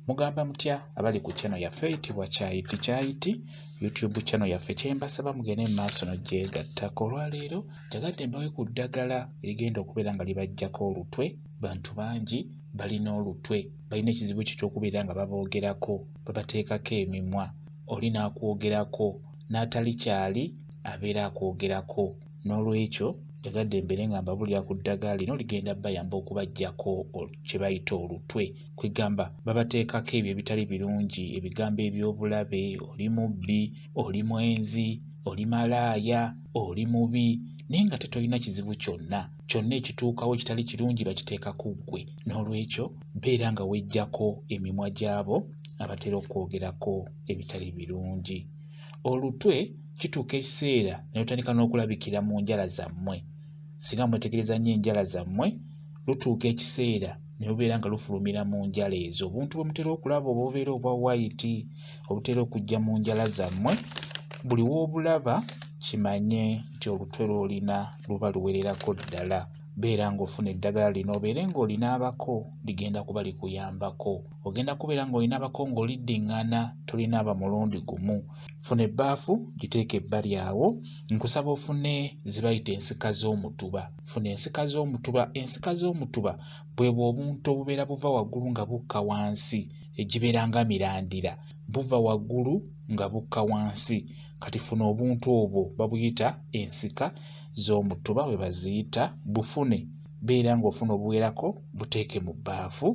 mugamba mutya abali ku channel yaffe eyitibwa kyayiti kyayiti youtube channel yaffe kyembasaba mugende mu maaso nogyegattako olwaleero njagadde mbawe ku ddagala erigenda okubeera nga libajjako olutwe bantu bangi balina olutwe balina ekizibu kyo kyokubeera nga baboogerako babateekako emimwa oli n'akwogerako n'atali kyali abeera akwogerako n'olwekyo njagadde mbeere nga mbabulira ku ddagala lino ligenda bayamba okubajjako kye bayita olutwe kwegamba babateekako ebyo ebitali birungi ebigambo eby'obulabe oli mubbi oli mwenzi oli malaaya oli mubi naye nga tetolina kizibu kyonna kyonna ekituukawo ekitali kirungi bakiteeka ku ggwe n'olwekyo beera nga wejjako emimwa gyabo abatera okwogerako ebitali birungi olutwe kituuka ekiseera ne lutandika n'okulabikira mu njala zammwe singa mwetegereza nnyo enjala zammwe lutuuka ekiseera ne lubeera nga lufulumira mu njala ezo obuntu bwe mutera okulaba oba obeera obwa wayiti obutera okujja mu njala zammwe buli w'obulaba kimanye nti olutwe lw'olina luba luwererako ddala beera ng'ofuna eddagala lino obeere ng'olina abako ligenda kuba likuyambako ogenda kubeera ng'olina abako ng'oliddiŋŋana tolina aba mulundi gumu funa ebbaafu giteeke ebbali awo nkusaba ofune ze bayita ensika z'omutuba funa ensika z'omutuba ensika z'omutuba bwebwo obuntu obubeera buva waggulu nga bukka wansi egibeera nga mirandira buva waggulu nga bukka wansi kati funa obuntu obwo babuyita ensika z'omutuba bwe baziyita bufune beera ng'ofuna obuwerako buteeke mu bbaafu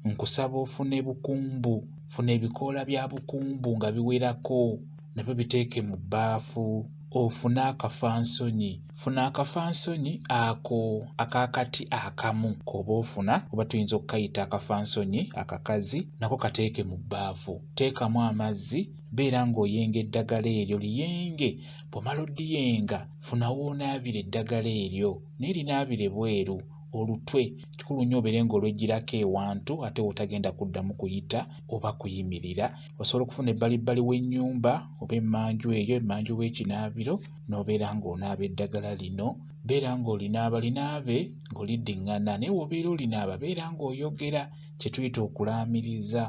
nkusaba ofune bukumbu funa ebikoola bya bukumbu nga biwerako nabyo biteeke mu bbaafu ofune akafansonyi funa akafansonyi ako akakati akamu k'oba ofuna oba tuyinza okukayita akafansonyi akakazi nako kateeke mu bbaafu teekamu amazzi beera ng'oyenga eddagala eryo liyenge bw'omala odiyenga funa w'onaabira eddagala eryo naye linaabire bweru olutwe kikulu nnyo obeere ng'olweggyirako ewantu ate w'otagenda kuddamu kuyita oba kuyimirira osobola okufuna ebbalibbali w'ennyumba oba emmanju eyo emmanju w'ekinaabiro n'obeera ng'onaaba eddagala lino beera ng'olinaaba linaabe ng'oliddiŋŋana naye w'obeera olinaaba beera ng'oyogera kye tuyita okulaamiriza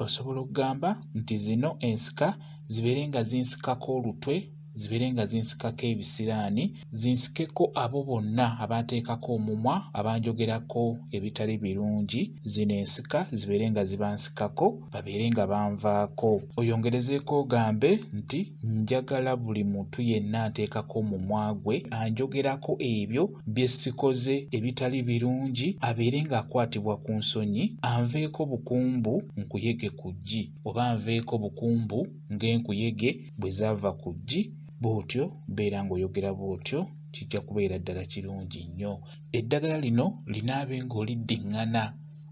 osobola okugamba nti zino ensika zibeere nga zinsikako olutwe zibeere nga zinsikako ebisiraani zinsikeko abo bonna abaateekako omumwa abanjogerako ebitali birungi zino ensika zibeere nga zibansikako babeere nga banvaako oyongerezeeko ogambe nti njagala buli muntu yenna nteekako omumwa gwe anjogerako ebyo bye sikoze ebitali birungi abeere ng'akwatibwa ku nsonyi anveeko bukumbu nkuyege ku ggi oba anveeko bukumbu ng'enkuyege bwe zaava ku ggi bw'otyo beera ng'oyogera bw'otyo kijja kubeera ddala kirungi nnyo Eddagala lino linaabe ng'oliddiŋŋana.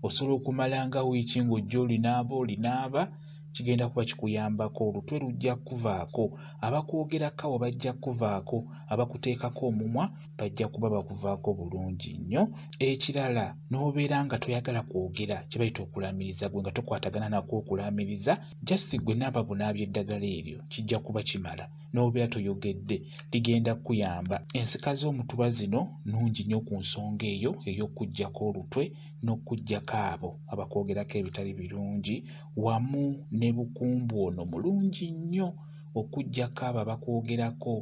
Osobola okumala nga wiiki ng'ojja olinaaba olinaaba, kigenda kuba kikuyambako. Olutwe lujja kukuvaako, abakwogerako abo bajja kukuvaako, abakuteekako omumwa bajja kuba bakuvaako bulungi nnyo. Ekirala n'obeera nga toyagala kwogera kye bayita okulaamiriza gwe nga tokwatagana nakwo okulaamiriza, just gwe naaba bunaabyi eddagala eryo kijja kuba kimala. n'obeera toyogedde ligenda kukuyamba. Ensika z'omutuba zino nnungi nnyo ku nsonga eyo ey'okuggyako olutwe n'okuggyako abo abakwogerako ebitali birungi wamu ne bukumbu ono mulungi nnyo okuggyako abo abakwogerako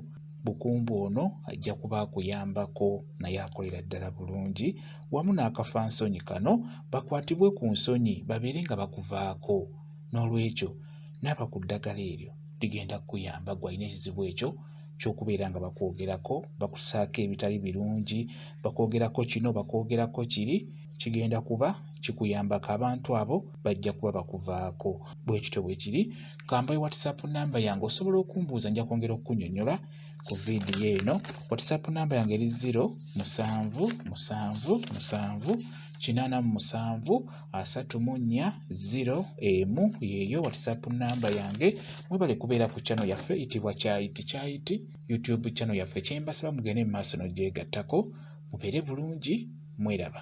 bukumbu ono ajja kuba akuyambako naye akolera ddala bulungi wamu n'akafansonyi kano bakwatibwe ku nsonyi babeere nga bakuvaako. N'olwekyo naaba ku ddagala eryo ligenda kukuyamba gwe alina ekizibu ekyo ky'okubeera nga bakwogerako, bakusaako ebitali birungi, bakwogerako kino, bakwogerako kiri, kigenda kuba kikuyambako. Abantu abo bajja kuba bakuvaako. Bwe kityo bwe kiri. Kambayo WhatsApp namba yange osobola okumbuuza nja kwongera okukunyonyola ku vidiyo eno. WhatsApp namba yange eri ziro musanvu musanvu musanvu kinaana mu musanvu asatu mu nnya ziro emu yeeyo whatsapp namba yange mwebale kubeera ku channel yaffe itibwa kyayiti kyayiti youtube channel yaffe kyembasaba mugende mu maaso nogyegattako mubeere bulungi mweraba